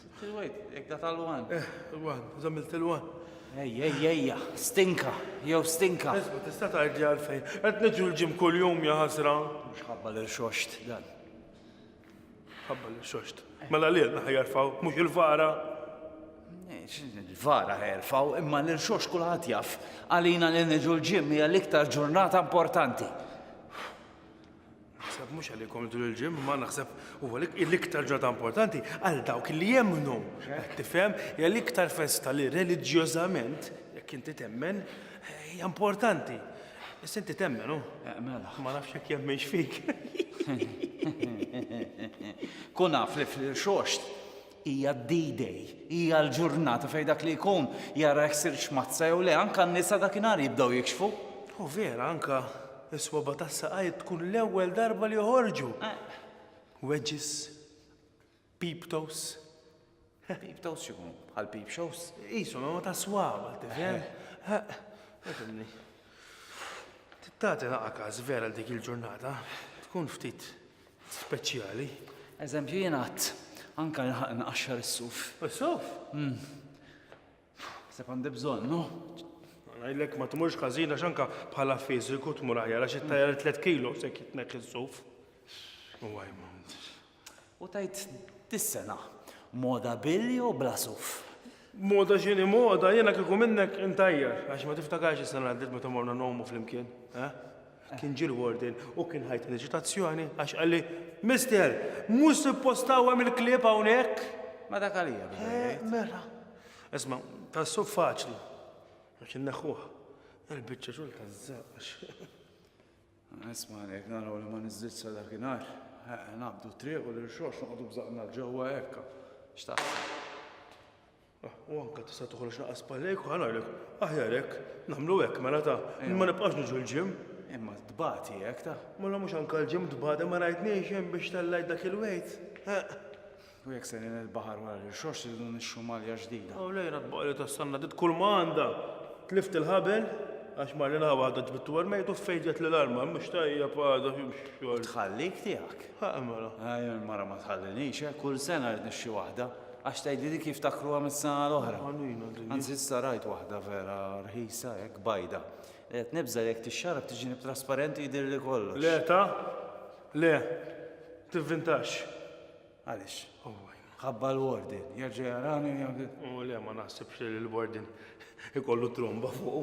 Sitt il-wejt, jek da tal-wan. Eh, il-wan, zamil til-wan. Ej, ej, ejja, stinka, jew stinka. Isma, tista tajdli għalfejn. Qed niġu l-ġim kull jum ja ħasra. Mux ħabba l-xoxt dan. Ħabba l-xoxt. Mela li għedna ħajarfaw, mux il-vara. Il-vara ħajarfaw, imma l-xoxt kullħat jaf. Għalina li niġu l-ġim hija l-iktar ġurnata importanti. Naħseb mhux għalikom tul il-ġimma, naħseb huwa l-iktar ġodda importanti għal dawk li jemmnu. Tifhem, hija l-iktar festa li reliġjożament, jekk inti temmen, hija importanti. Issa inti temmen, u? Eh, mela. Ma nafx jekk jemmenx fik. Kun naf li fil-xoxt Hija d-D-Day, hija l-ġurnata fejn dak li jkun jara jekk sirtx mazza jew le, anke n-nisa dakinhar jibdew jikxfu. Hu vera, anke s-swaba' tas-saqajt tkun l-ewwel darba li joħorġu. Wedges, peep toes. Peep toes x'ikunu? Bħal peep shows? Qishom imma tas-swaba', tifhem? Ifhimni. Tagħti naqqa każ vera dik il-ġurnata, tkun ftit speċjali. Eżempju jien għadd anke nilħaq inqaxxar is-suf. Is-suf? Mm. Seb għandi bżonn, no? Għajlek ma tmurx każina x'anka bħala fiżiku tmur aħjar għax it-tajjar 3 kilo se kitnek is-suf. U għajma. U tajt dis-sena moda billi u bla suf. Moda xini moda, jena kiku minnek intajjar, għax ma tiftakarx is-sena għaddit meta morna nomu fl-imkien, eh? Kien ġie l-warden u kien ħajt minn eċitazzjoni għax qalli, Mister, mhux suppost tgħawwem il-klieb hawnhekk! Ma dak għalija beda jgħid. Eh, mela. Isma', tas-suq faċli. Għax inneħħuh. Il-biċċa xogħol taż-żaq għax. Isma' għalhekk naraw li ma niżżid sa dakinhar. Naqbdu triq u l-irxox noqogħdu bżaqna ġewwa hekk. X'taħseb? U anke tista' toħroġ naqas spallejk u ħa ngħidlek, aħjar hekk, nagħmlu hekk mela ta, ma nibqax niġu l-ġim. Imma tbati hekk ta. Mela mhux anke l-ġim tbati ma rajtniex hemm biex tellgħet dak il-wejt. U jekk sejrin il-baħar wara l-irxoxt irridu nixxu malja ġdida. U lejla tbaqli tas-sanna dit kull ma għandha. Tlift il-ħabel għax mar lilha waħda ġbittu għal mejt u ffejġet lil arma mhux tajjeb għadha xi xogħol. Tħallik tiegħek. Ħa mela. Ejja l-mara ma tħallinix, kull sena rrid nixxi waħda. Għax tgħidli dik jiftakruha mis-sena l-oħra. Anzi issa rajt waħda vera rħisa hekk bajda. Li qed nibża' li jekk tixxarrab tiġini b'trasparenti jidhirli kollox. Le ta! Le! Tivvintax! Għaliex? Ħabba l-warden. Jerġa' jarani u jagħmel. O le, ma naħsibx li l-warden ikollu tromba fuqu.